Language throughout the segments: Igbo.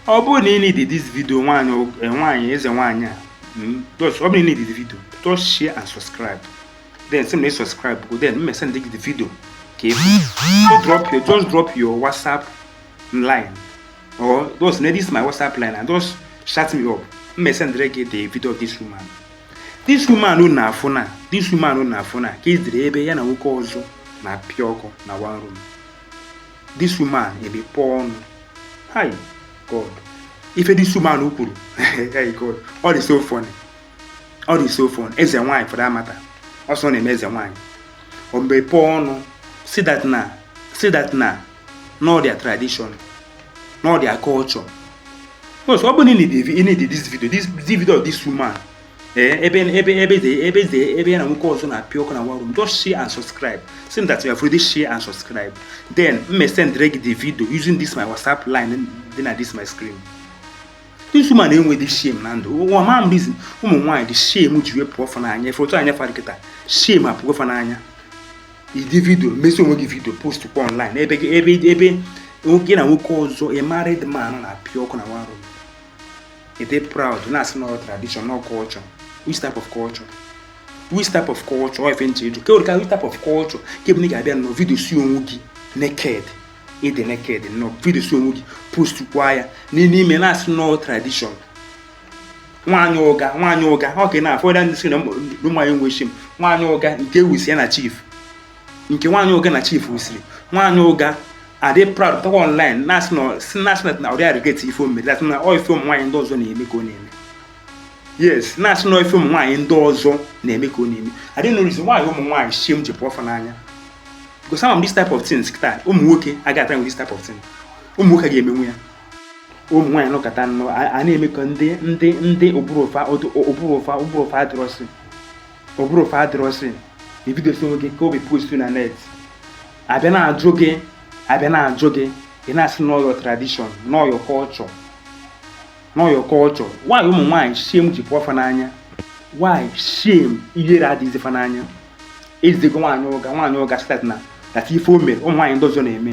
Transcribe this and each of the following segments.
ọ bụrụ na ị need this video nwaanyị eh, nwaanyị eze nwaanyị a hmm, ọ bụrụ na ị need this video just share and subscribe then sị m na ị subscribe go then mụ esendị gị the video ka ị fụ just drop your just drop your whatsapp line or just na this my whatsapp line and just chat me up mụ esendị gị the video of this woman this woman unu na-afụ na this woman unu na-afụ na ka e ziri ebe ya na nwoke ọzọ na-apịa ọkụ na one room this woman emepụọ ọnụ hey god ife this woman kwuru hey god ọ dị so funny ọ dị so funny eze nwaanyị for that matter ọ sị ọ na-eme eze nwaanyị o mepụọ ọnụ sị that na sị that na n'ọ their tradition n'ọ their culture so ọ bụ na ị need this video this video of this woman ee ebe ebe ebe eze ebe eze ebe ya na nwoke ọzọ na-apịa ọkụ na one room just share and subscribe sị m that you have already share and subscribe then mụ esend gị the video using this my whatsapp line dị na this my screen this woman enwedị shame na ndụ ụwa ma m reason ụmụ nwaanyị dị shame ji wee pụọ fa n'anya ị fụ otu anya fa ra kịta shame apụọ fa n'anya ide vidio mesịa onwe gị vidio post kwa online ebe ebe ebe gị na nwoke ọzọ a married man na-apịa ọkụ na one room ị dị proud na-asị n'ọ tradition n'ọ culture which type of culture which type of culture ọ ife m chọ ịjụ kewere ka which type of culture ka ọ bụ na ị ga-abịa nọ vidiosie onwe gị naked ị dị naked nọ vidiosie onwe gị post kwa ya n'ime na-asị n'ọ tradition nwaanyị ụga nwaanyị ụga ọ ka na-afọ ya ndị sị na ụmụ nwaanyị enwe shame nwaanyị ụga nke ewusi ya na chief nke nwaanyị ụga na chief wusiri nwaanyị ụga adị proud pụtakwa online na-asị na-asị na-asị na na ọ dịghị a-regret ife o me that na ọ ife ụmụ nwaanyị ndị ọzọ na-eme ka ọ na-eme yes na-asị na ife ụmụ nwaanyị ndị ọzọ na-eme ka ọ na-eme I don't know reason why ụmụ nwaanyị shame ji pụọ fa n'anya because some of this type of things kịta ụmụ nwoke agaghị a-trynwu this type of thing ụmụ nwoke aga emenwu ya ụmụ nwaanyị nọkata nnọọ a a na-eme ka ndị ndị ndị ụbụrụ fa ụbụrụ fa ụbụrụ fa adịrọsị ụbụrụ fa adịrọsị ị vidiosie onwe gị kaa obi postuo na net a bịa na-ajụ gị a bịa na-ajụ gị ị na-asị n'ọ your tradition n'ọ your culture n'ọ your culture nwaanyị ụmụ nwaanyị shame ji pụọ fa n'anya nwaanyị shame ihere adịghịzi fa n'anya ezigo nwaanyị ụga nwaanyị ụga sị that na that ife o mere ụmụ nwaanyị ndị ọzọ na-eme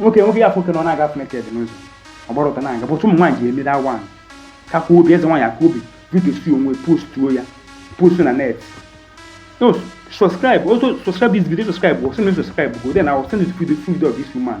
nwoke nwoke ị ya-afụ ka ọ na-aga naked n'ụzọ ọ gbara ọtọ na-aga but ụmụ nwaanyị ji emere awa kakwa obi eze nwaanyị akaa obi vidiosie onwe postuo ya postuo na net so subscribe also subscribe this video subscribe or sị m na ị subscribe go then I will send you the video of this woman